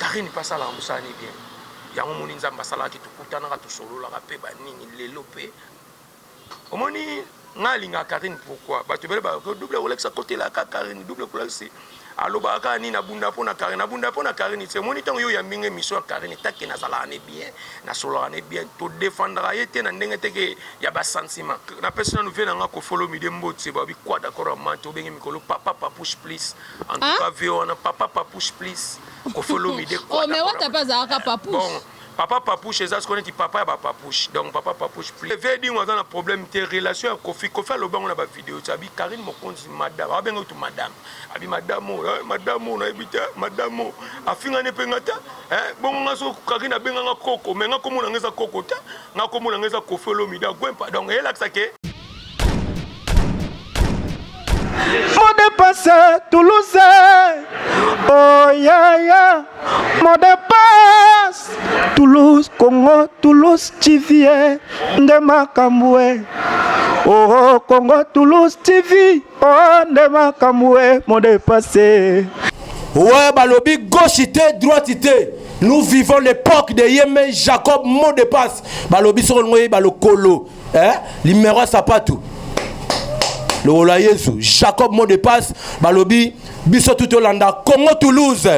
Carine pe asalaka musala ne bien yango omoni nzambe asalaka ke tokutanaka tosololaka pe ba nini lelo pe omoni ngai alingaka carine pourquoi batu ebele ba double rolex akotela kaka carine double rolex alobaka kaka nini abunda pona carine abunda pona carine te omoni ntango yo oyambi ngai mission ya carine take nazalaka ne bien nasololaka ne bien to defendaka ye te na ndenge te ke ya ba sentiment napesi nanu vie na ngai kofolomide mbotse babi quoi d'accord ya mante obenge mikolo papa papouche please En tout cas, vieux wana papa papouche please. Koffi Olomide Oh, kwata mais wata mpe azalaka Bon, papouche. papa papouche eza sikoyo neti papa ya ba papouche. Donc papa papouche please. Vieux Edingo aza na problème te relation ya Koffi. Koffi alobi yango na ba video ti abi Carine Mokonzi madame. Abenga kutu madame. Abi madame oyo, eh, madame oyo nayebi te, eh, madame oyo. Afinga ne mpe nga te. Eh, bongo nga so Carine abenga nga koko, mais nga kombo na nga eza koko te. Nga kombo na nga eza Koffi Olomide Agwempa. Donc elakisa ke Modepase Toulouse Oh yeah yeah Modepase Toulouse Congo Toulouse Chivie nde makambo e Oh Congo Toulouse TV Oh nde makambo e Modepase Ouais balobi gauche te droite te nous vivons l'époque de Yeme Jacob Modepase balobi soko lingo yeba lokolo eh? limero ya sapatu lokola yesu jacob mot de passe balobi biso tu tolanda congo toulouse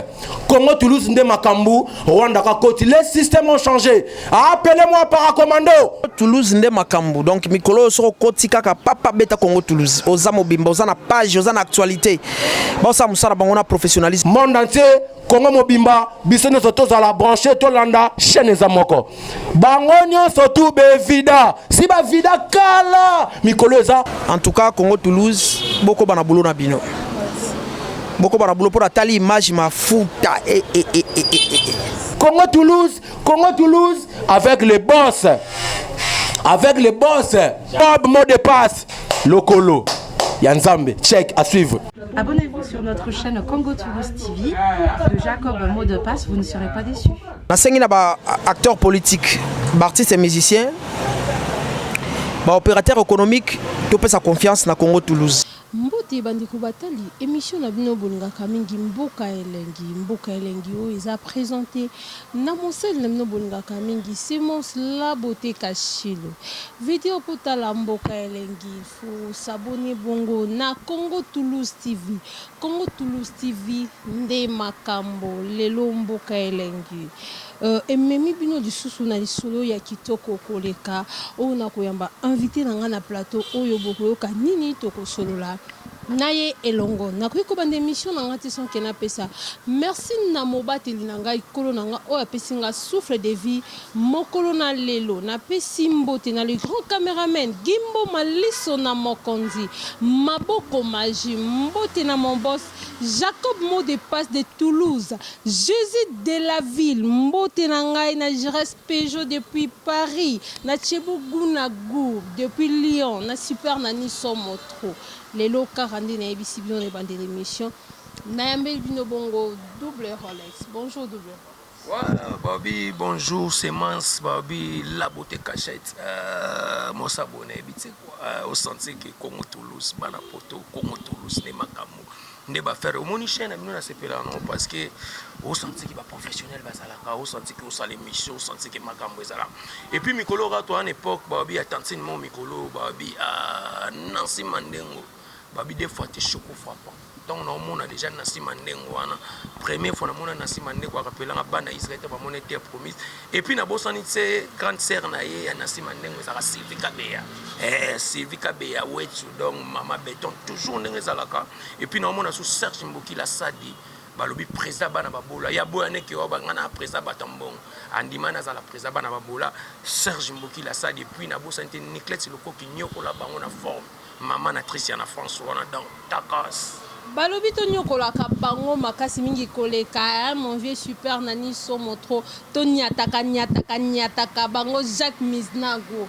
congo toulouse nde makambo rwanda kakoti les systèmes ont changé appele moi paracommando toulouse nde makambo donc mikolo oyo soki okoti kaka papa beta congo toulouse oza mobimba oza na page oza na actualité baosala mosala bango na professionnalisme monde entier Congo mobimba biso nyonso tozala branche tolanda chaîne eza moko bango nyonso tu bevida si bavida kala mikolo eza en tout cas Congo Toulouse bokoba na boulot na bino bokoba na boulot mpo natali image mafuta e, e, e, e, e, e. Congo Toulouse Congo Toulouse avec les boss avec les boss Bob mot de passe lokolo ya nzambe check à suivre Abonnez-vous sur notre chaîne Congo Tourist TV de Jacob Mot de Passe, vous ne serez pas déçus. nasengi na baacteur politique baartiste ya musicien baopérateur économique topesa confiance na congo toulouse mbote bandeko batali émission na bino bolingaka mingi mboka elengi mboka elengi oyo eza présente na mosali na bino bolingaka mingi semence labote kashilo video potala mboka elengi Osaboni bongo na Congo Toulouse TV Congo Toulouse TV nde makambo lelo mboka elengi ememi bino lisusu na lisolo ya kitoko koleka oyo na koyamba invite na ngai na plateau oyo bokoyoka nini tokosolola na ye elongo nakoki kobanda emission na ngai te sans ke napesa merci na mobateli na ngai kolo na ngai oyo apesi ngai souffle de vie Mokolo na lelo na pesi mbote na le grand cameraman Gimbo Maliso na Mokonzi maboko maji mbote na mon boss Jacob mot de passe de Toulouse Jesus de la ville mbote na ngai na Giresse Pejo depuis Paris na Chebo gout na gout depuis Lyon na Super Nani somo trop lelo kaka nde na yebisi bino na ebandeli emission na yambeli bino bongo double Rolex bonjour double Rolex. Balobi bonjour semence balobi la beaute cachette euh, mon s'abonne yebi tse quoi euh, au sentir que Congo Toulouse bana poto Congo Toulouse ne makambo nde ba faire omoni chaîne amino na sepela non parce que au sentir que ba professionnel bazalaka au sentir que osala émission au sentir que makambo ezala et puis mikolo ka to en époque balobi ya tantine mo mikolo balobi ah Nancy Mandengo Babi de fois te choco frapant tango na omona deja nasi mandengo wana premier fois namona nasi mandengo arapelanga bana israel te bamona ete promise epuis nabosani se grande sere na ye ya nasi mandengo ezalaka sylvie kabeya eh, sylvie kabeya wetsu donc mama beton toujours ndenge ezalaka epuis na omona su serge mbokila sadi balobi président bana babola ya boya neke oyo banga na président bata mbongo andima nazala président bana babola serge mbokila sadi epuis nabosani te niclete lokoki nyokola bango na forme Maman na Tricia na François wana donc takass. Balobi to niokolaka bango makasi mingi koleka hein mon vieux super Nani somo trop to niataka niataka niataka bango Jacques Miznago.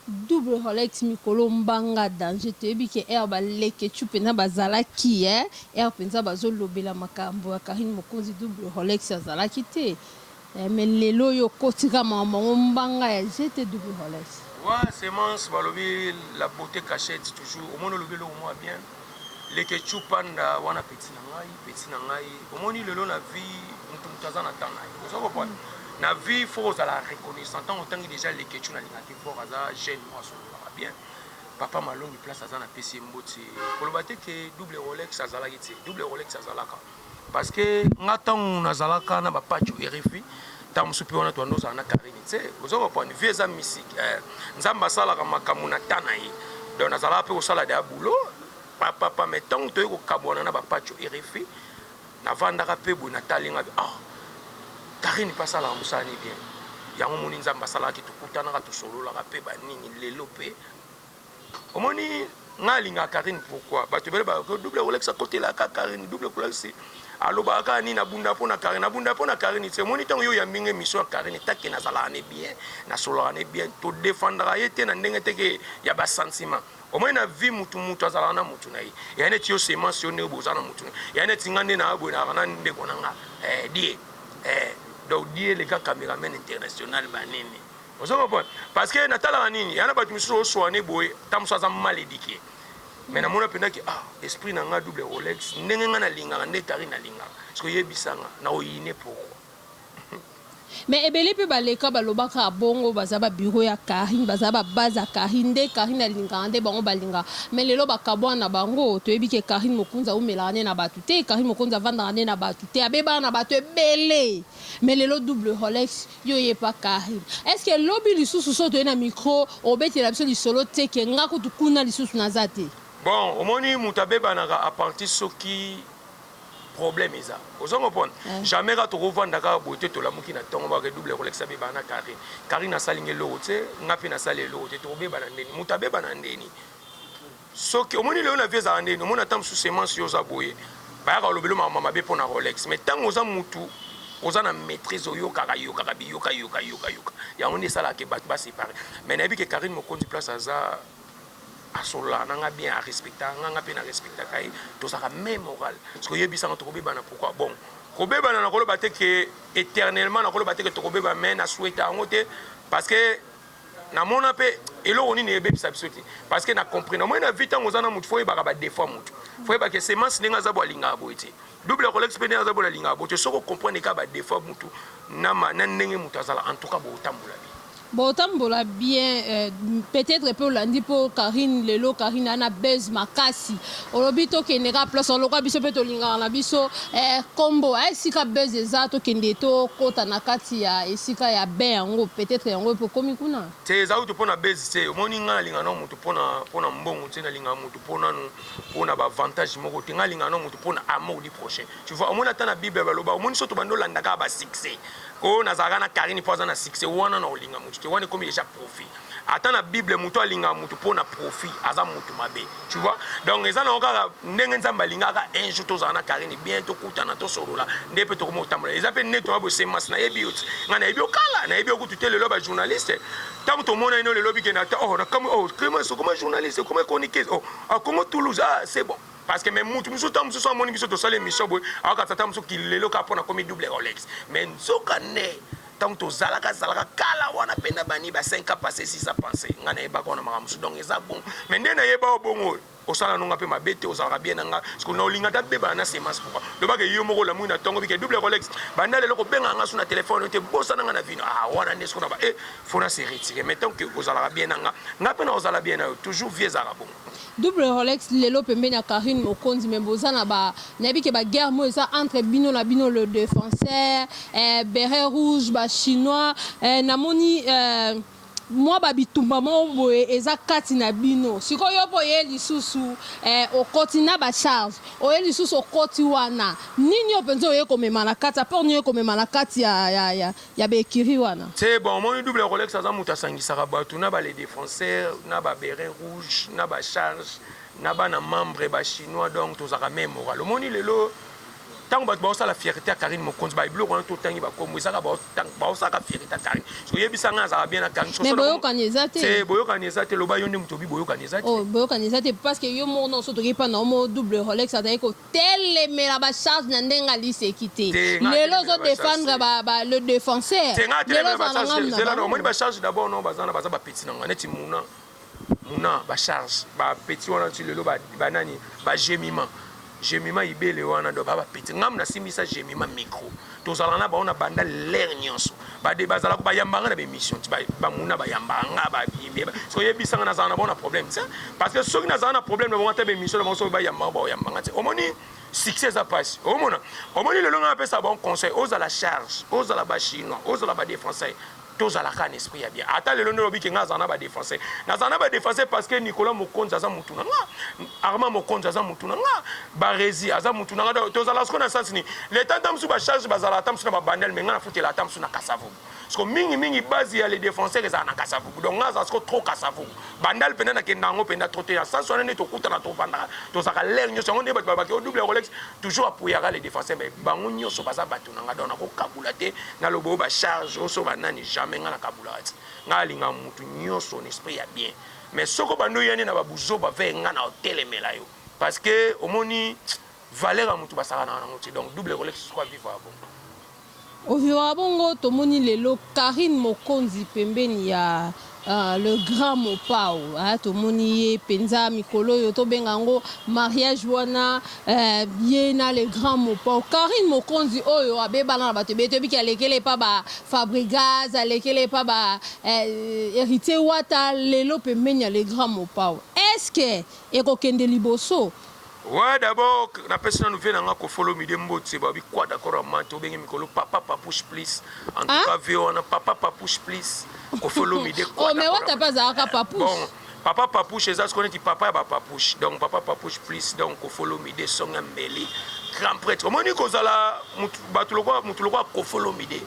Double Rolex mikolo mbanga danger toyebi ke heure ba leketshou pena bazalaki eh heure penza bazo lobela makambo ya Carine Mokonzi double Rolex azalaki te Eh mais lelo oyo okoti ka makambo yango mbanga ya GTW Holles. Wa semence balobi la beaute cachette toujours omoni olobi eloko mwa bien leketchou panda wana petit na ngai petit na ngai omoni lelo na vie mutu mutu aza na temps na ye ozo kopona mm. na vie faut ozala reconnaissant ntango otangi déjà leketchou na lingaki fort aza jeune mwa asololaka bien papa malongi place aza na pesi ye mboti koloba te ke double rolex azalaki te double rolex azalaka Parce que nga tangu nazalaka na ba pacho RFI tangu supi wana tuanda ozala na Karine tse ozo comprendre vie eza misiki eh, Nzambe asalaka makambo na temps na ye donc nazalaka mpe kosala deya boulot papapa mais ntango toyei kokabwana na bapacho erefi navandaka mpe boye natali nga ah karine mpe asalaka mosala ni bien yango moni nzambe asalaki tokutanaka tosololaka mpe banini lelo mpe omoni nga alinga Karine pourquoi bato ebele ba double kolakisa kotela ka Karine double kolakisi alobaka kaka nini abunda mpo na Karine abunda mpo na Karine te omoni ntango yo oyambi nga émission ya Karine take nazalaka ne bien nasolaka ne bien to défendaka ye te na ndenge teke ya ba sentiment omoni na vie mutu mutu azalaka na mutu na ye eya neti yo semence yo ndenge boza na mutu na eya neti nga nde na boye nalaka na ndeko na nga eh, die eh. donc die leka cameraman international banini Ozo comprendre? Parce que na talaka nini? Yana batu misusu ozo soane boye, ta mususu aza mal eduque. Mais na mona penda ke ah esprit na nga double Rolex ndenge nga na lingaka nde Carine alingaka. Siko yebisa nga na oyine pourquoi? Mais ebele pe ba leka ba lobaka bongo baza ba bureau ya Carine, baza ba base ya Carine nde Carine alingaka nde bango ba lingaka. Mais lelo ba kabuana bango, toyebi ke Carine Mokonzi awumelaka nde na batu te, Carine Mokonzi avandaka nde na batu te, abebaka na batu ebele. Mais lelo double Rolex Yo ye pa Carine est ce que lobi lisusu soki toye na micro obetela biso lisolo tse que nga kutu kuna lisusu naza te. Bon omoni mutu abebanaka a partir soki problème eza ozo comprendre eh. jamais ka toko vanda kaka boye te tolamuki na tongo moko double ekolekisa bebana na carine carine asali nge eloko tse nga pe nasali eloko te tokobebana ndeni mutu abebana ndeni Soki omoni lelo na vie ezalaka nde nini omona ta mususu semence yo oza boye bayaka olobelo makambo mabe pona Rolex mais tango oza mutu oza na maitrise oyokaka yokaka biyoka yoka yoka yoka yango nde esalaka ke batu ba separe mais nayebi ke Carine Mokonzi place aza asololaka na nga bien a respectaka nga nga pe na respectaka ye tozalaka meme morale soki oyebisa nga tokobebana pourquoi bon kobebana nakoloba te ke eternellement nakoloba te ke tokobeba mais na souhaita yango te parce que Na mona pe eloko nini ebebisa biso te parce que na comprena omoni na vie tango oza na mutu fo oyebaka ba defaut ya mutu fo oyebaka ke semence ndenge aza bo alingaka boye te double akolakisa pe ndenge aza bo alingaka boye te soki ocomprene kaka ba defaut ya mutu na ma na ndenge mutu azala en tout cas botambola bien. Botambola bien euh, peut-etre pe olandi po Carine lelo Carine aza na buzz makasi Olobi tokende kaka place wana lokola biso mpe tolingaka na biso eh, kombo eh, esika buzz eza tokende tokota na kati ya esika ya bain yango peut-être yango mpe okomi kuna te eza kutu mpo na buzz te omoni ngai nalinga nao moto mpo na mbongo te nalinga moto mpo nanu mpo na baavantage moko te ngai nalinga nao moto mpo na amour du prochain tu vois omoni ata na bible baloba omoni so tobandi olandaka basuccès oyo nazalaka na karine mpo aza na succès wana na olinga moto te wana ekomi deja profit ata na bible moto alingaka moto mpo na profit aza moto mabe tu vois donc eza nango kaka ndenge nzambe alingaka un jour tozala na karine bien tokutana tosolola nde mpe tokomi kotambola eza mpe nde toya bosemas nayebi yo ti ngai nayebi yo kala nayebi yo kutu te lelo bajournaliste ntango tomonani no lelo bikende ata oh nakamwi oh clemence okoma journaliste okoma chroniqueuse oh akongo ah, toulouse ah c'est bon parce que me mutu mosusu ntango mosusu amoni biso tosala émission boye akatata mosusu kilelo kaka mpo nakomi double rolex mais nzoka nde tangu tozalaka zalaka kala wana pe na bani ba 5 ans passe six ans passe nga na yebaka wana makambo mususu donc eza bon mais nde na yeba yo bongo oyo osala nonga pe mabe te ozalaka bien na nga siko na olinga ta bebana na semence pourquoi lobaka yo moko lamuki na tongo bike double rolex banda lelo ko benga nga su na telephone te bosa na nga na vino ah wana nde siko na ba eh faut na se retirer mais tant que ozalaka bien na nga nga pe na ozala bien na yo toujours vie ezalaka bongo Double Rolex lelo pembeni ya Carine Mokonzi mais boza na ba nayebi ke ba guerre mo eza entre bino na bino le defenseur eh, beret rouge ba chinois eh, namoni eh, mwa ba bitumba mo boye eza kati na bino siko yo po ye lisusu eh, okoti na ba charge oye lisusu okoti wana nini yo penza oye komema na kati apport nini oye komema na kati ya, ya, ya ya ba ecurie wana. C'est bon omoni double rolex aza mutu asangisaka batu na ba les defenseurs na ba beret rouge na ba charge na bana membres ba chinois donc tozalaka meme morale omoni lelo tango batu baosala fierite ya Carine Mokonzi ba biloko wana totangi ba kombo ezaka baosalaka fierite ya Carine soki oyebisa ngai azalaka bien na Carine mais boyokani eza te c'est boyokani eza te loba yo nde mutu obi boyokani eza te oh boyokani eza te parce que yo moko na oso toki pa na omo double rolex azali ko Telemela ba charge na ndenge Alice ekite lelo ozo defendre ba ba le defenseur lelo oza na ngambo na bango. Omoni ba charge d'abord non baza na baza ba petit na nga neti muna muna ba charge ba petit wana ti lelo ba ba nani ba gemima gemima ibele wana do ba ba petit ngambo na simbisa gemima micro. Tozalaka na bango na banda ler nyonso bade bazalaka bayamba nga na bemission ti bamuna bayamba nga babimbe so yebisa nga nazala na bango na problème ti parce que soki nazala na problème na bango ata bemission na bango soki bayamba nga baoyamba nga ti omoni succès eza pasi omona omoni lelo nga napesa bango conseil ozala charge ozala ba chinois ozala ba defenseur tozala ka na esprit ya bien ata lelo nde olobi ke nga azala na ba défenseur nazala na ba défenseur parce que Nicolas Mokonzi aza mutu na nga Armand Mokonzi aza mutu na nga Barezi aza mutu na nga tozala siko na sens ni leta ata musu ba charge bazala ata musu na ba bandel mais nga na futela ata musu na Kasavubu siko mingi mingi base ya les défenseurs ezala na Kasavubu donc nga azala siko trop Kasavubu bandal penda na kenda yango penda trop te ya sens wana nde tokutana tofandaka tozaka l'air nyoso yango nde bato babaki au double Rolex toujours apuyaka les défenseurs mais bango nyoso baza bato na nga donc nakokabula te Naloba oyo ba charge oyo soki ba nani jamais nga na kabulaka ti nga alingaka mutu nioso na esprit ya bien mais soki obandi oya nde na ba buzoba vee nga nao telemela yo parce que omoni valeur ya mutu basakanaka nango te donc double rolex soki avivaka bongo Ovivaka bongo tomoni lelo Carine Mokonzi pembeni ya Ah le grand mopao ah tomoni ye penza mikolo oyo tobenga yango mariage wana eh, ye na le grand mopao Carine Mokonzi oyo abebana na bato ebele toyebi ki alekele epa ba Fabrigaz alekele epa ba eh, Heritier Wata lelo pembeni ya le grand mopao est-ce que ekokende liboso Ouais d'abord na pesi nanu vie na nga kofolo mide mbotse ba bi quoi d'accord amante obenge mikolo papa papouche please en tout ah? cas vie wana papa papouche please kofolo mide quoi oh mais wata pas aka papouche bon papa papouche eza sikoyo neti papa ya ba papouche donc papa papouche please donc kofolo mide songa mbeli grand prêtre omoni kozala bato lokola motu lokola kofolo mide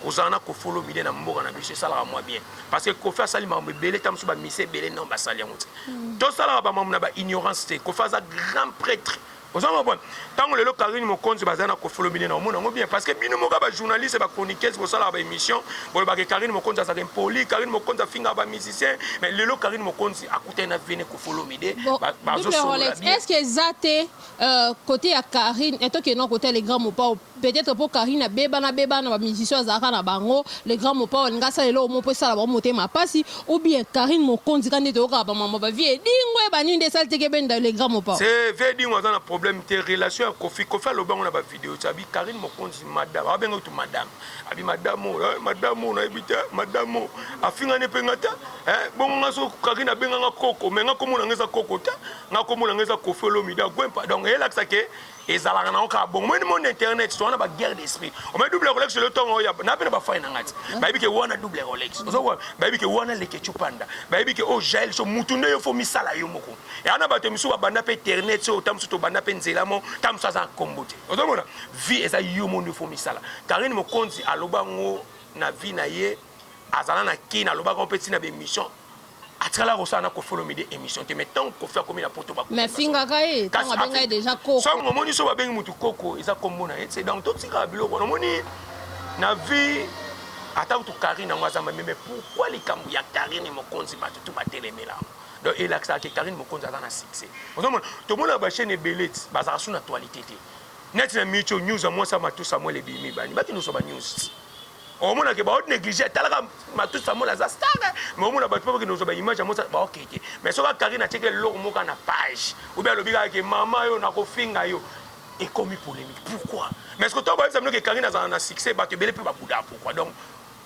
Kozala na Koffi Olomide na mboka na biso esalaka mwa bien parce que Koffi asali makambo ebele ntango mosusu bamise ebele non basali yango te hmm. tosalaka bamakambo na baignorance te Koffi aza grand prêtre oza mabona ntango lelo karine mokonzi bazali na Koffi Olomide na omona yango bien parce que bino moko bajournaliste bachroniqueuse bosalaka baémission bolobaka karine mokonzi azalaka impoli karine mokonzi afingaka bamusicien mais lelo karine mokonzi akutani na vene Koffi Olomide bazosolola bien Euh cote ya Carine eh tokende na cote ya le grand Mopao peut etre po Carine abebana bebana na ba musiciens oyo azalaka na bango le grand Mopao alingi asala eloko moko po esala bango motema pasi ou bien Carine Mokonzi kaka nde toyokaka ba mambo ya ba vieux Edingwe eh ba nini nde esali teke benda le grand Mopao. Ce vieux Edingwe aza na problème te relation ya Koffi Koffi alobi yango na ba videos abi Carine Mokonzi madame abenga kutu madame abi madame oyo eh madame oyo nayebi te eh madame oyo afingani pe nga te Eh, bongo nga so kaki na benga nga koko mais nga komo na nga eza koko te nga komo na nga eza kofi olomide agwempa donc eyelakisa ke ezalaka nango kaka bongo moni monde internet so wana baguerre d'esprit omai double rolex elo ntongo oyo na mpe na bafai na ngai ti hmm. bayebi ke wana double rolex ozokoa bayebi ke wana leketio panda bayebi ke oyo oh, jael so mutu nde yo fo misala yo moko eya na bato mosusu babanda mpe internet so ta mosusu tobanda mpe nzela mo ta mosusu aza nkombo te ozomona vie eza yo mo nde fo misala karine mokonzi aloba yango na vie na ye azala na kin alobaka yango mpe ntina ya baemission atikala kosala na kofi olomide émission te mais ntango kofi akomi na poto mais afingaka ye ntango abenga ye deja koko soki omoni so babengi motu koko eza kombo na ye te donc totikaka biloko wana omoni na vie ata kutu karine yango aza mameme pourkui likambo ya karine mokonzi bato tu batelemela yango donc elakisaka ke karine mokonzi aza na succès ozomona tomonaka bachaine ebele ti bazalaka su na actualité te neti na micho news ya mwasi ya matu samuel ebimi bani bato nyonso ba news ti omona ke baot néglige atalaka matusi amona aza star mais omona bato mpe bakende kozwa baimage ya mosala baokei te mais soki akari na tieke eloko moka na page obi alobi kaka ke mama yo nakofinga yo ekomi polémique pourquoi mais soki to bayebisa bino ke karine azala na succès bato ebele mpe babudaa pourquoi donc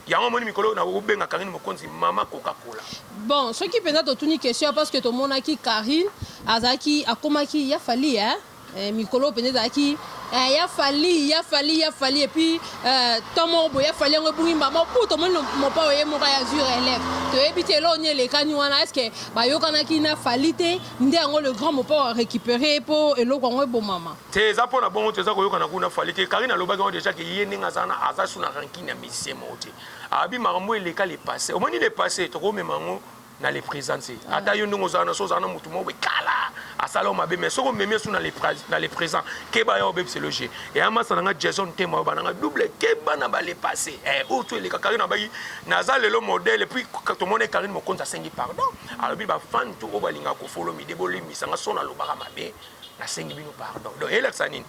yango omoni mikolo oyo nakobenga karine mokonzi mama coca cola bon soki mpenza totuni question parce que tomonaki karine azalaki akomaki ya fali eh? Eh, mikolo mpenza ezalaki eh, ya fali ya fali ya fali epuis eh, temps moko boye ya fali yango ebungi mbama mpo tomoni mopao ye moko ya zure elève toyebi te eloko nini elekani wana estce bayokanaki na fali te nde yango le grand mopao arécupere mpo eloko yango ebomama te eza mpo na bongo te eza koyokana kuna fali te karine alobaki yango deja ke ye ndenge aza na aza su na rankine ya misie moko te abi makambo eleka le passé omoni le passé tokomema yango na le present se ata yo ndenge ozala na so ozala na motu moko ekala asala yo mabe mais soki omemi esu na le present keba yo obebisela yo je eya masa na nga jason tema oyo bananga double keba na bale passe eh, oyo tu eleka karine abaki naza lelo modele puis tomoni karine mokonzi asengi pardon alobi bafani tu oyo balingaka kofolomide bolimbisa nga so nalobaka mabe nasengi bino pardon donc elakisa nini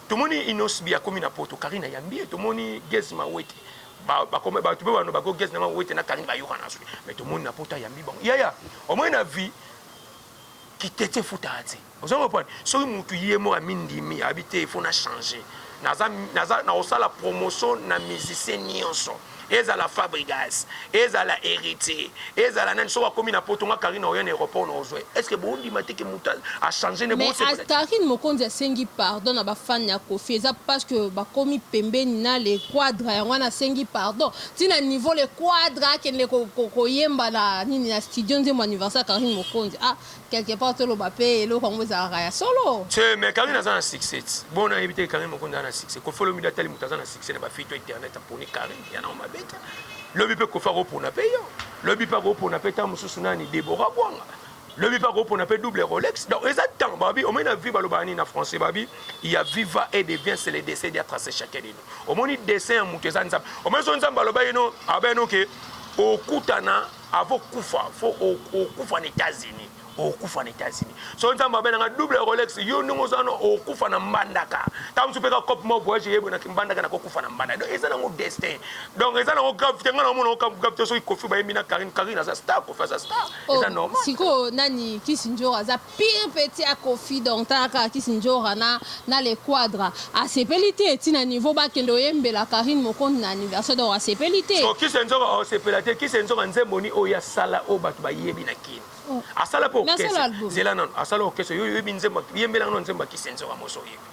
tomoni inosbi akomi na poto karine ayambi ye tomoni gesma wete ba ba comme ba tu peux ba ko guest na bango wete na kalingi ba yoka na suki mais to moni na pota yambi bango yaya au moins na vie kitete futa ate ozo comprendre soki mutu ye mo amindimi abite il faut na changer naza naza na osala promotion na musicien nyonso ezala fabrigas ezala héritier Ezala nani soki akomi na poto nga Carine oya na aeroport na ozua ye est ce que bo ndima te que mutu a change ne bo sepela te. Mais Carine Mokonzi asengi pardon na ba fan ya Koffi eza parce que bakomi pembeni na le Quadra yango wana asengi pardon ti na niveau le Quadra akende ko yemba na nini na studio nzembo anniversaire ya Carine Mokonzi ah Quelque part toloba pe eloko yango ezalaka ya solo. Tse mais Carine aza na succès tse. Bon na yebi te Carine Mokonzi aza na succès. Koffi Olomide atali moto aza na succès na ba filles to internet aponi Carine. Ya nango mabe te. Lobi pe Koffi akopona pe yo. Lobi pe akopona pe ta mosusu nani Deborah Bwanga. Lobi pe akopona pe double Rolex. Donc eza temps babi omoni na vie balobaka nini na français babi il y a viva et de bien c'est le dessin dia tracer chacun de nous. Omoni dessin ya moto eza nzambe. Omoni so nzambe aloba ye no aba ye no ke okutana Avo kufa fo okufa na etats unis okufa na etats unis so nzambe abela nga double rolex yo ndenge oza no okufa na mbandaka ntango mosusu mpe ka cope mo voyage eyebwe na kimbandaka nakokufa na mbandaka donc eza nango destin donc eza nango gravité ngai naomona ngo gravité soki kofi bayembi na karine karine aza star kofi aza star eza oh, normal sikoyo nani kisi njoro aza Pire petit ya koffi donc tala kaka kiss ndjora na na le quadra asepeli te ti na niveau ba kende oyembela carine mokonzi na anniversaire donc asepeli te. Sikoyo kiss ndjora osepela te kiss ndjora nzembo ni oyo asala oyo batu ba yebi na kin asala pe okese zela nanu asala okese yo oyebi nzembo yembela nga nanu nzembo ya kiss ndjora mosi oyebi.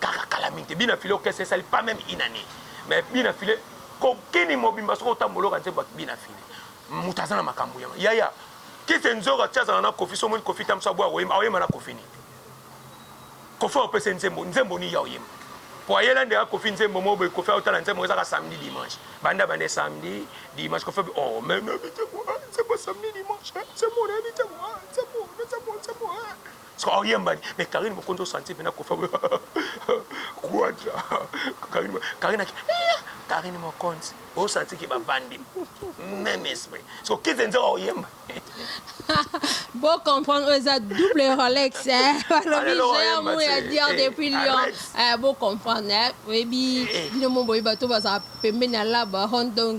Kaka kala mingi te bina file orchestre esali pas meme une année mais bina file kokini mobimba soki otambola oka nzembo bina file moto aza na makambo ya yaya kise nzoka ti azala na kofi so omoni kofi tamso aboya koyemba aoyemba na kofi nini kofi aopesa nzembo nzembo nini ya oyemba po ayela nde akofi nzembo mo boye kofi aotala nzembo ezaka samedi dimanche banda bande samedi dimanche kofi oh mais na bite ko nzembo samedi dimanche nzembo na bite ko nzembo nzembo nzembo Sikoyo aoyemba nini? Mais Carine Mokonzi o sentir pena Koffi akoya Quadra Carine Carine aki Carine Mokonzi o sentir ke bavandi même esprit. Sikoyo Kizenza aoyemba Bo comprendre oyo eza double Rolex eh balobi Alelo géant ayemba mou ya te. dior Eh, depuis Lyon arrête. eh bo comprendre eh oyebi Eh. bino mo boyebi bato bazala pembeni ya laba Hong Dong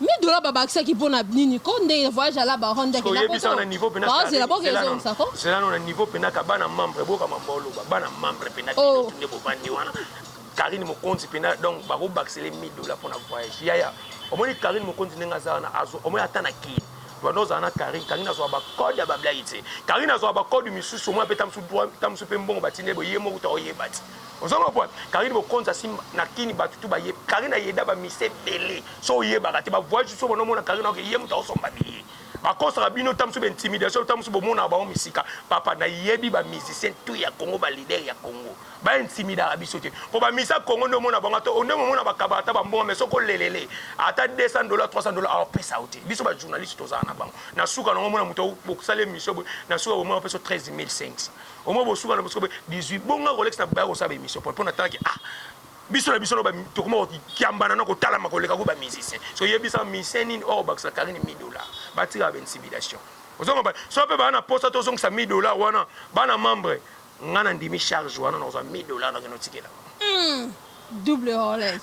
Mi dola ba bakisaki mpo na nini ko nde voyage ya la baronne ndeke na poto ba zela bo ke zo sa ko zela no na niveau pena ka bana membre boka mambo loba bana membre pena ki oh. tunde bo bandi wana Karine Mokonzi pena donc ba ko bakisela 1000 dollars pour na voyage yaya omoni Karine Mokonzi ndenge aza wana azo omoni ata na kini banda ozala na karine karine azwa bacode ya bablai te karine azwa bacode misusu omoi mpe ta mosusu mpe mbongo batindi ye boye moko ta oyeba te Ozo comprendre? Carine Mokonzi asimba na kin batu tout baye Carine ayeda ba mise ebele so oyebaka te ba voyage so bono mona Carine oke ye mutu aosomba biye bakosaka bino tamusu ba intimidation tamusu bomonaka bango misika papa na yebi ba musicien tout ya Congo ba leader ya Congo ba intimidaka biso te po ba mise ya Congo nde omona bango ata onde momona bakaba ata ba mbongo mais soko lelele ata 200 dollars 300 dollars aopesa yo te biso ba journaliste tozala na bango na suka na omona mutu bokosala emission boye na suka bomona peso 13500 Au moins bosuka na bosuka 18 bonga kolekisa baya kosala emission po na tanki ah biso na biso na ba tokoma kiambana na kotalama koleka ko ba musicien so yebisa musicien nini or bakisa Karine 1000 dollars batira ba intimidation ozonga ba so pe ba na posa to zongisa 1000 dollars wana bana membre nga na ndimi charge wana na kozwa 1000 dollars na kino tikela mm. double Rolex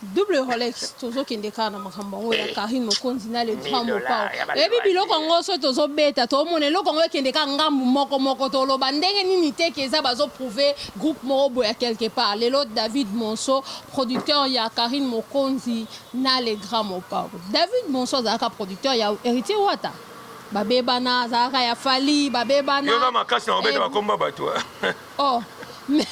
Double Rolex tozo kende kaka na makambo yango ya Carine Mokonzi na le grand Mopao. Oyebi biloko yango soki tozo beta to mona eloko yango ekende kaka ngambu moko moko to loba ndenge nini te ke eza bazo prouver groupe moko boya quelque part. Lelo David Monso producteur ya Carine Mokonzi na le grand Mopao. David Monso azalaka producteur ya Heritier Wata. Ba bebana azalaka ya Fally ba bebana. Yo oza makasi na ko beta ba kombo ya batu. Oh. mais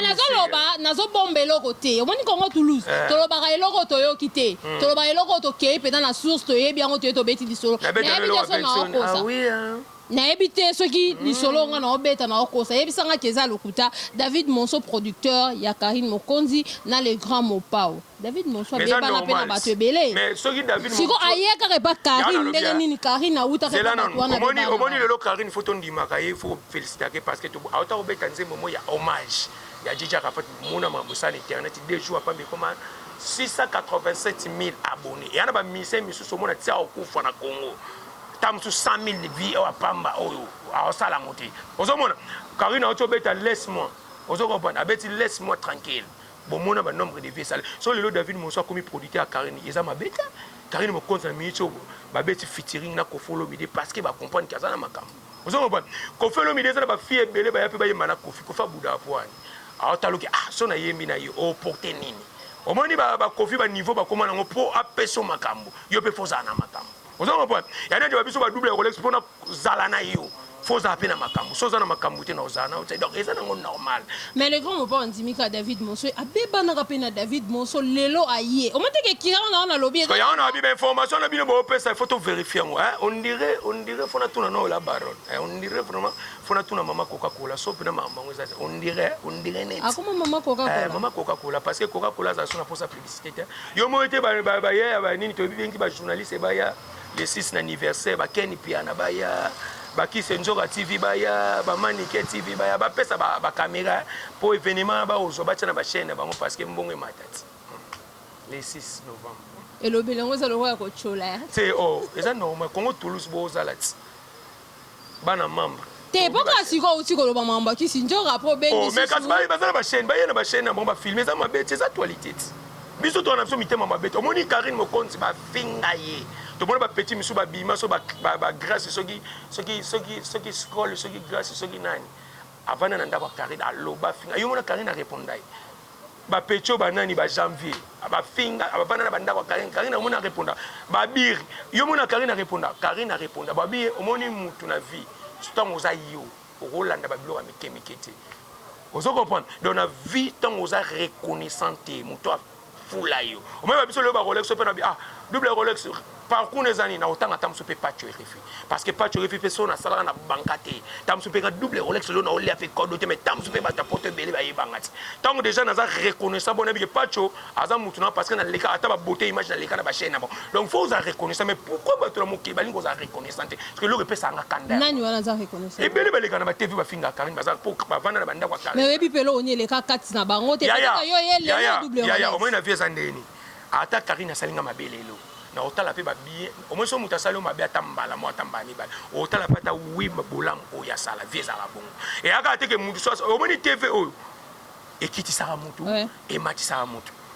nazo loba nazo bomba eloko te omoni congo toulouse eh. tolobaka eloko toyoki te hmm. tolobaka eloko tokei mpenza na source toyebi yango toye tobeti lisolo nayebi te so naokosa ah hein. nayebi te soki hmm. lisolo onga naobeta naokosa yebisanga ke eza lokuta david monso producteur ya karine mokonzi na le grand mopao David Monso Mais eza abebana mpe na normal. bato ebele Mais soki David siko Monso- aye kaka epa Yango Karine nalobi, ndenge ah. nini Karine awutaka zela epa bato nanu wana omoni abebana na omoni bango. lelo karine fo tondimaka ye fo felicitake parce que to- auta kobeta nzembo mo ya hommage ya jiji arafat mona makambo esala na internet deux jours apambi ekoma 687 000 abonné eya na bamusicien misusu omona tia okufa na congo ta mosusu 100 000 vie oyo apamba oyo akosala yango te ozomona karine auti obeta laisse moi ozo comprendre abeti laisse moi tranquille Bo mona ba nombre de vie esala. Soki lelo David Monson akomi producteur ya Carine eza mabe te. Carine Mokonzi na minute oyo ba beti featuring na Koffi Olomide parce que ba comprendre que aza na makambo. Ozo comprendre? Koffi Olomide eza na ba filles ebele ba ya pe ba yemba na Koffi. Koffi abudaka po ani. Azo tala que ah soki na yembi na ye o porter nini? Omoni ba ba Koffi ba niveau ba koma na ngo po apesa yo makambo. Yo pe faut ozala na makambo. ozo comprendre ya neti ba biso ba double ya rolex pona zala na yo faut ozala mpe na makambo so oza na makambo te na ozala na ote donc eza nango normal mais le grand mopa ondimi ka david moso abebanaka mpe na david moso lelo aye omateke kira wana wana alobi eza yango na biba information na bino boopesa faut toverifie yango on dirait on dirait fona tuna na ola baron on dirait vraiment fona tuna mama coca cola so mpe na makambo yango eza on dirait on dirait neti akoma mama coca cola mama coca cola parce que coca cola azala so na posa yo moyo te baya ya banini tobibengi ba journaliste baya le 6 na anniversaire bakeni piana baya bakise nzoka tv baya bamanike tv baya bapesa bakamera mpo evenema na baozwa batya na bachaine na bango parce que mbongo emata ti le 6 novembre elobeli yango eza lokola kotyola te o oh, eza normal kongo toulouse bozala ti bana membres te po kaka sikoyo outi koloba makambo ya kisi ndjora apres obengi oh, mais kasi baza na bachaine baye na bachaine na bango bafilme eza mabe ti eza tualite ti biso towana biso mitema mabe te omoni karine mokonzi bafinga ye tomoni bapetit misusu babima so bagrace soki soki soki soki scroll soki grace soki nani Avanda na ndako ya Carine aloba finga yo mona Carine areponda ye ba pecho ba nani ba janvier ba finga ba bana na banda kwa Karine Karine omona reponda ba bir yo mona Karine reponda Karine reponda ba bir omoni mutu na vie tant oza yo okolanda ba biloko mike mike te ozo comprendre donc na vie tant oza reconnaissant te mutu fula yo omema biso lelo ba rolex ope na bi ah double rolex parcours na eza nini na otanga ta mosusu mpe pacho erefi parce que pacho erefi mpe so nasalaka na banka te ta mosusu mpe nga double rolex lelo na olia mpe kodo te mais ta mosusu mpe bato ya poto ebele bayebanga ti ntango déjà naza reconnaissant bona bike pacho aza motu na parce que naleka ata babote image naleka na bachaine na bango donc faut ozala reconnaissant mais pourquoi bato na mokili balingi kozala reconnaissant te eloko epesaka nga kanda nani wana aza reconnaissance ebele baleka na ba TV bafinga Karine baza po bavanda na bandako ya Karine mais oyebi pe eloko ni eleka kati na bango te yaya yo ye lelo double yaya omoni na vie eza ndeni ata Karine asali nga mabe lelo na otala pe ba bien omoni so moto asali yo mabe ata mbala mo ata mbala mibale otala pe ata wi bolamu oyo asala vie ezalaka bongo eyaka te ke moto so omoni TV oyo ekitisaka moto ematisaka moto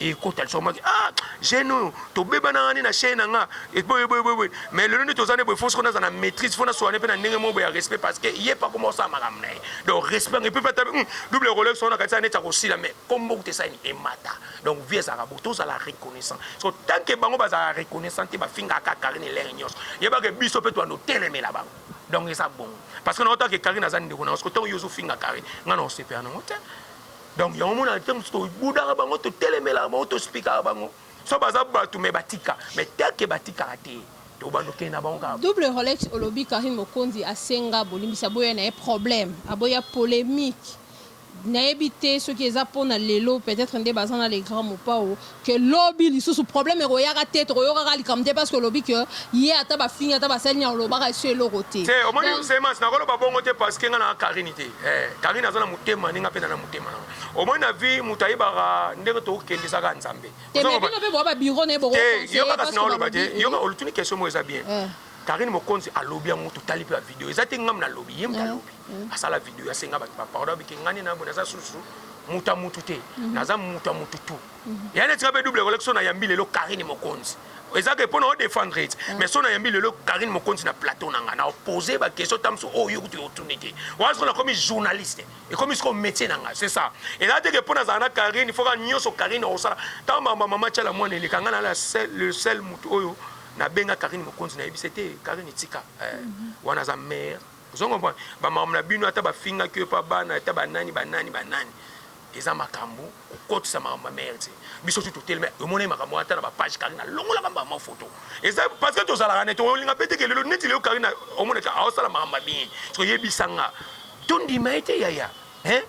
ekota liso maki ah jeune oyo tobeba na ngani na chaîne na nga eboye boye boye mais lelo nde toza nde boye fosi konaza na maîtrise fona soane mpe na ndenge moko boye ya respect parce que ye mpe akoma osala makambo na ye donc respect ngai mpe mpe ata hmm, double rolex wana kati neti akosila mais kombo kuta esani emata donc vie ezalaka bo tozala reconnaissant so tant que bango bazala reconnaissant te bafingaka kaka karine lere nyonso yebaka biso mpe toando telemela bango donc eza bongo parce que naotaka karine aza ndeko na yo soki ntango yo ozofinga karine ngai na osepela nango te Donc yango mona te musu to budaka bango to telemelaka bango to spikaka bango so baza batu me batika me teke batikaka te to bando kende na bango kaka Double Rolex olobi Carine Mokonzi asenga bolimbisi aboya na ye problème aboya polemique nayebi te soki eza pona lelo peut-etre nde baza na le grand Mopao que lobi lisusu problème ekoyaka te tokoyokaka likambo te parce que olobi que ye ata bafingi ata basali nini alobaka esu eloko te Te omoni donc Zemas nakoloba bongo te parce que nga na Carine te eh Carine aza na motema ndenge nga pe na na motema na nga omoni na vie mutu ayebaka ndenge tokokende eza kaka Nzambe te ozo mais bino comprendre pe boa ba bureau na ye boko te conseiller ye yoka kasi parce que naoloba te balobi yoka olutuni question moko eza bien eh. Carine Mokonzi alobi yango totali pe ba video eza te nga mutu nalobi ye mutu alobi. mm. asala video asenga bato ba pardon abike ngani na boye naza susu mutu ya mutu te mm. naza mutu ya mutu tu mm. Mm-hmm. ya neti kabe double koleki so nayambi lelo karine mokonzi eza ke mpo na odefendre ete mm. mais so nayambi lelo karine mokonzi na plateau na ngai na opose bakestion ta mosusu oyo oh, kutu otuni te wana soko nakomi journaliste ekomi soko métier na ngai c'est ça eza te ke mpo nazala na karine il faut ka nyonso karine akosala ntango mama mama tyala mwana eleka ngai na le sel motu oyo nabenga karine mokonzi nayebisa te karine tika eh, mm-hmm. wana aza mare Ozo comprendre? Ba makambo na bino ata ba fingaki yo epa bana ata ba nani ba nani ba nani eza makambo kokotisa makambo ma mère te. Biso tu toteleme omonaki makambo ata na ba page Karina longola kamba ma photo. Eza parce que tozalaka ne tolinga pete ke lelo neti lelo Karina omonaka aosala makambo ma bien. Soyebisa nga tondima ete yaya hein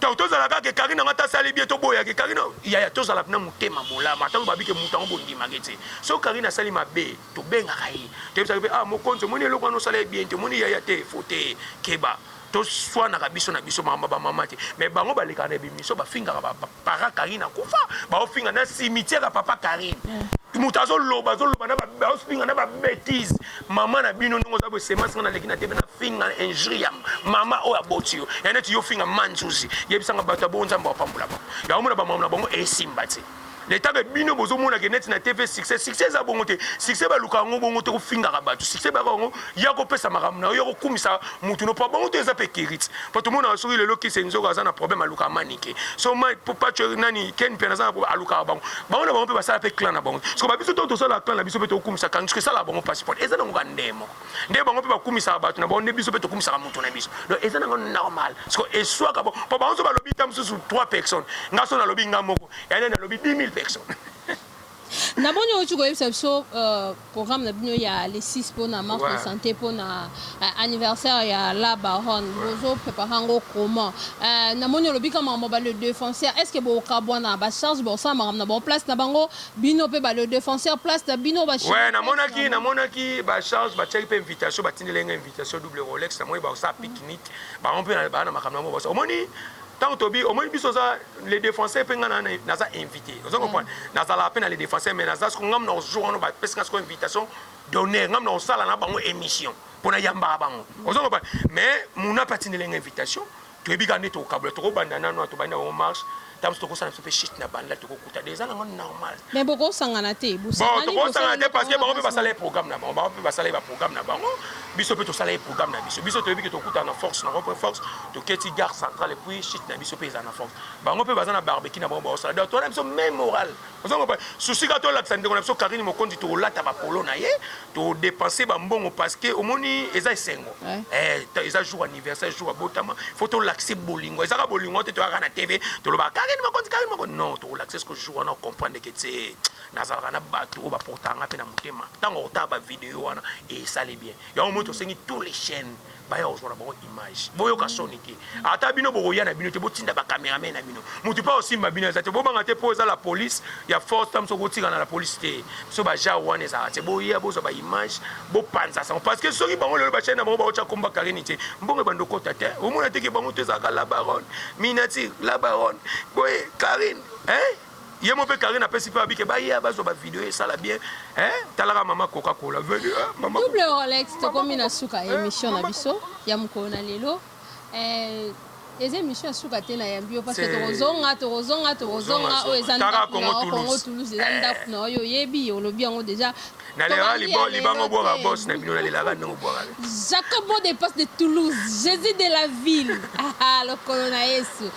Donc tozala kaka Carine yango ata sali bien toboya ke Carine yaya tozala na motema bolamu ata loba bike moto yango bondima ke tse so Carine asali mabe tobengaka ye toyebisaka pe ah mokonzi omoni eloko wana osala ye bien te omoni yaya te faut te keba toswanaka biso na biso makambo ba mama te mais bango balekaka na ebimiso bafingaka ba para Carine akufa baofinga na cimetière ya papa Carine eh. moto azoloba azoloba baofinga na babétise mama na bino ndenge oza bosemasi nga naleki na tebe nafinga injuri ya mama oyo aboti yo ya neti yo ofinga manzuzi yebisanga bato ya bongo nzambe wapambola bango yango mona bamama na bango esimba te leta mpe bino bozomonaka neti na tv succès succès eza bongo te succès balukaka yango bongo te kofingaka bato succès bayaka yango ya kopesa makambo na yo ya kokumisa motu no mpo bango to eza mpe kirite po tomonaka soki lelo kise nzoka aza na problème alukaka manike so mai po paco nani ken mpiana aza na alukaka bango bango na bango mpe basala mpe clan na bango siko babiso to tosalaka clan na biso mpe tokumisa kan siko esalaka bango mpasi pone eza nango bandee moko nde bango mpe bakumisaka bato na bango nde biso mpe tokumisaka moto na biso donc eza nango normal siko eswaka bango po bango so balobi ta mosusu 3 personnes nga so nalobi nga moko yanene alobi 10 000 personnes Na boni owuti koyebisa biso programme na bino ya le 6 pona marche de sante pona anniversaire ya la baronne bozo preparer yango comment? Na moni olobi kaka makambo ya ba le defenseur est ce que bokabuana ba charge bosala makambo na bango place na bango bino pe ba le defenseur place na bino ba chevaux place na bango. Oui na monaki ba charge batiaki pe invitation batindeli ye nga invitation double rolex na moni bazo sala picnic bango pe baza na makambo na bango omoni. Tango tobi omoni biso oza les défenseurs pe nga na naza invité oza comprendre mm. nazala pe na les défenseurs mais naza siko ngamu na jour wana ba pesi nga siko invitation d'honneur ngamu na osala na bango émission pona yamba bango mm. oza comprendre mais muna pe atindele nga invitation toyebi ka nde tokabula tokobanda nanu tobanda bango marche tabuso tokosala biso pe shit na banda toko Taddy eza nango normal. Mais bokosangana te, bosangani bosala eloko moko. Bon tokosangana te parce que bango pe basala ye programme na bango, bango pe basala ye ba programme na bango, biso pe tosala ye programme na biso, biso toyebi ke tokutana na force na rond point force, toketi gare centrale et puis chute na biso pe ezala na force, bango pe baza na barbecue na bango baosala, donc toza na biso meme morale, ozo comprendre? Souci kaka tolakisa ndeko na biso Carine Mokonzi tokolata ba polo na ye, To depense ba mbongo parce que omoni eza esengo. Eh eza jour anniversaire jour abotama faut to laxer bolingo eza ka bolingo te to yaka na TV to loba Karine Mokonzi Karine Mokonzi non to laxer ce jour wana comprendre que tse nazalaka na bato oyo baportanga mpe na motema ntango otala ba video wana esali bien yango moi tosengi tous les chaînes baya kozwa na bango image boyoka soni te ata bino bokoya na bino te botinda bacameraman na bino motu mpe akosimba bino eza te bobanga te mpo eza la police ya force tam soki otikana la police te biso bajao wana ezalaka te boya bozwa baimage bopanza sango parce que soki bango lelo bachai na bango baotya komba karini te mbongo ebanda okota te omona teke bango to ezalaka la baronne minatir la baronne boye karine hein ye mo pe Karine apesi pe abike ba ya bazo ba video esala bien hein talaka mama coca cola venu hein mama double Rolex tokomi na suka ya emission na biso ya mukolo na lelo eh eza emission ya suka te nayambi yo parce que tokozonga tokozonga tokozonga oyo eza ndako na yo kongo toulouse eza ndako na yo oyebi olobi yango deja nalelaka libolo libanga obwaka bos na bino nalelaka ndenge obwaka jacobo de passe de toulouse jésus de la ville ah, ah, lokolo na yesu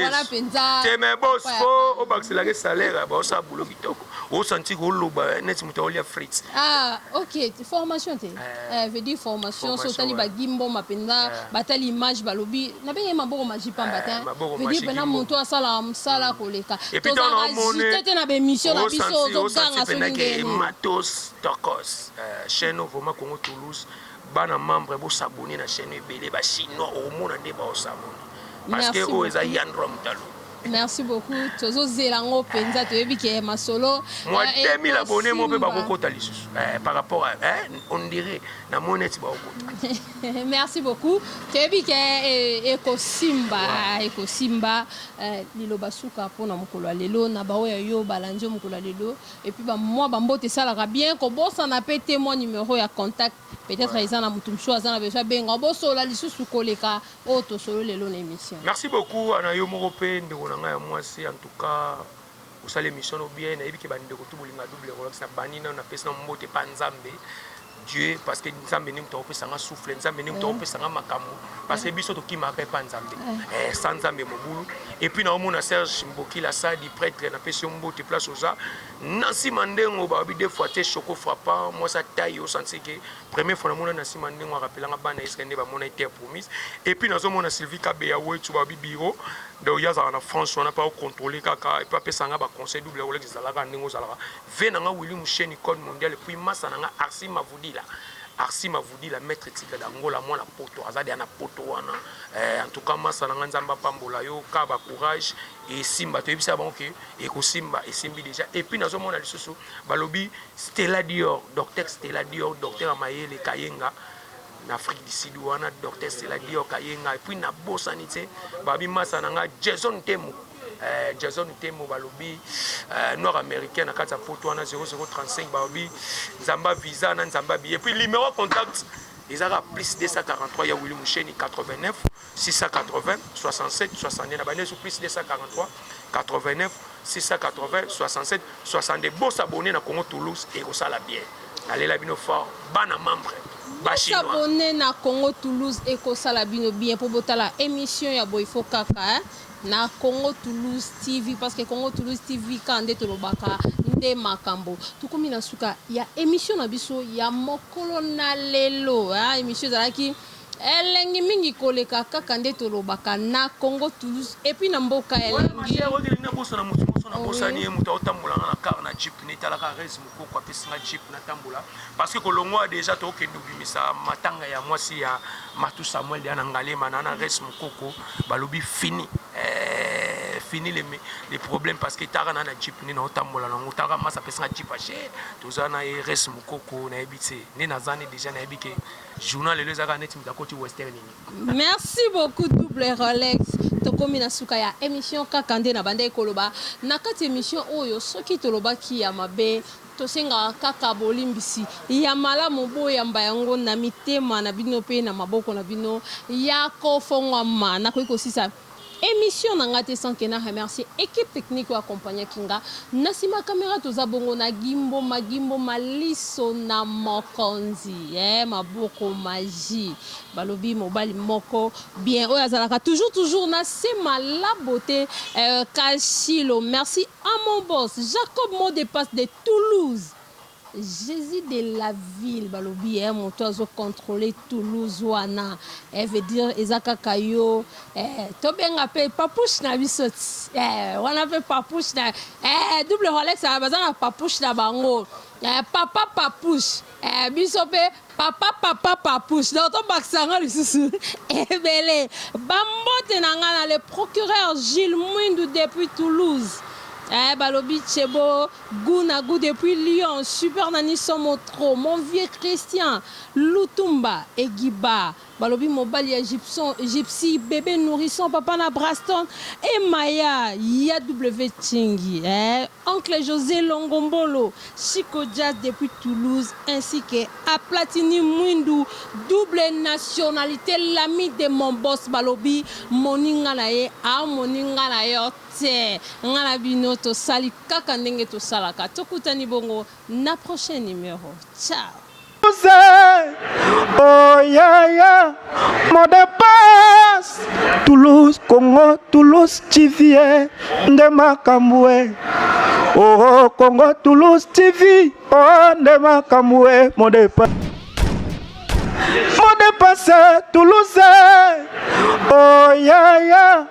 wana mpenza te me bos po obakiselaka esalaire ya baosala bulo kitoko osanti koloba eh, neti moto aolia frite ah ok formation te eh. Eh veut dire formation so otali ba Guy mboma penza ba tali image ba lobi na benga ye maboko maji pamba te veut dire pena mutu asala musala ko leka tozala agite te na ba emission na biso ozo ganga so ndenge matos tokos chaîne vraiment Congo Toulouse bana membre bo s'abonner na chaîne ebele ba chinois omona nde ba s'abonner parce que oyo eza Yandro Mutalo Merci beaucoup tozo zela ngo penza toyebi ke masolo mwa 2000 abonné mo pe bakokota lisusu eh, par rapport à eh, on dirait na moni neti bakokota merci beaucoup toyebi ke eh, ekosimba ouais. ekosimba eh, liloba suka mpo na mokolo ya lelo na baoyo yo balandi yo mokolo ya lelo epuis bamwa bambote esalaka bien kobosana pe te mwa numero ya contact peut-être eza na moto mosusu aza na besoin abenga bosola lisusu koleka oyo tosololi lelo na emission. Merci beaucoup a na yo moko pe ndeko na ngai ya mwasi en tout cas osali emission no bien nayebi ke ba ndeko tout bolinga double rolex na bandi nanu na pesi nanu mbote epa nzambe Dieu parce que nzambe nde moto akopesa nga souffle nzambe nde moto akopesa nga makambo parce que biso tokimaka epa nzambe eh, sa nzambe mobulu et puis naomona serge mbokila sadi prêtre napesi yo mbote place oza na nsima ndengo baobi de fois te choco frappant mwasi atai osanti ke Premier fois na mona na sima ndengo arapela nga bana Israël nde ba mona terre promise et puis nazo mona Sylvie Kabeya Wetsu ba bi bureau donc ya zala na France wana pa contrôler kaka et puis apesa nga ba conseil double wala zalaka ndengo zalaka ve na nga Willy Musheni code mondial et puis masa na nga Arsi Mavudila Arsi Mavudila maître tigre d'Angola mwana poto azadi ana poto wana eh, en tout cas masa na nga nzambe apambola yo ka ba courage et simba to yebisa bango que ekosimba esimbi déjà et puis nazo mona lisusu Balobi Stella Dior Docteur Stella Dior Docteur ya mayele Kayenga na Afrique du Sud wana Docteur Stella Dior Kayenga puis na bosani tse babi masa na nga Jason Temo eh, Jason Temo balobi eh, noir américain na kati ya poto wana 0035 balobi nzamba visa na nzamba billet puis numéro contact ezaka plus 243 ya Willy Musheni 89 680 67 62 na banesu plus 243 89 680 67 62 bo s'abonner na Congo Toulouse et ekosala bien nalela bino fort bana membre s'abonner na Congo Toulouse et ekosala bino bien po botala émission ya boy fo kaka hein? na Congo Toulouse TV parce que Congo Toulouse TV ka nde tolobaka nde makambo tokomi na suka ya émission na biso ya mokolo na lelo hein? émission ezalaki Elengi mingi koleka kaka nde tolobaka na Congo Toulouse et puis na mboka elengi. Nabosani ye moto aotambola nga na car na jeep netalaka rese mokoko apesi nga jeep natambola parce que kolongwa deja tookende obimisa matanga ya mwasi ya matu samuel ya na ngalema na na rese mokoko balobi fini eh, fini le, le problème parce que etaka na na jeep nde naotambola nango taka masa apesi nga jeep ashe toza na ye rese mokoko nayebi te nde naza nde deja nayebi ke Journal lelo eza kaka neti moto akoti western nini. Merci beaucoup double Rolex. Tokomi na suka ya emission kaka nde na bandaki koloba na kati emission oyo soki tolobaki ya mabe tosengaka kaka bolimbisi ya malamu boyamba yango na mitema na bino mpe na maboko na bino ya kofongwama nakoki kosisa Emission na nga te sans que na remercier equipe technique oyo accompagnaki nga na sima camera toza bongo na Gimbo ma Gimbo ma liso na mokonzi eh maboko magie balobi mobali moko bien oyo azalaka toujours toujours na sema la beauté euh, Kashilo merci à mon boss Jacob Modepas de Toulouse Jesus de la ville balobi eh moto azo controle Toulouse wana eh veut dire eza kaka yo eh tobenga pe papouche na biso ti eh wana pe papouche na eh double Rolex baza na papouche na bango eh papa papouche eh biso pe Papa papa papouche donc tobakisa yango lisusu ebele bambote na ngai na le procureur Gilles Mwindu depuis Toulouse eh, balobi chebo gout na gout depuis Lyon super nani somo trop mon vieux Christian Lutumba Egiba Balobi mobali ya gypson, gypsy, bebe nourrisson, papa na braston et maya ya wtchingi eh oncle jose longombolo chico jazz depuis toulouse ainsi que a platini mwindu double nationalite l'ami de mon boss balobi moninga na ye a moni nga na yo te nga na bino tosali kaka ndenge tosalaka tokutani bongo na prochain numero ciao. Oh yeah yeah, mon dépasse. Toulouse, Congo, Toulouse, Chivie, nde makambo eh. Oh Congo, Toulouse, TV, oh nde makambo eh, mon dépasse. Mon dépasse, Toulouse. Oh yeah yeah.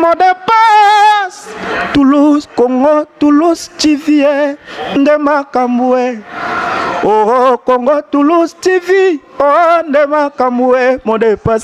Mot de passe Toulouse, Congo, Toulouse, TV, eh, nde makambo eh. Oh, Congo, Toulouse, TV, oh, nde makambo eh, mot de passe.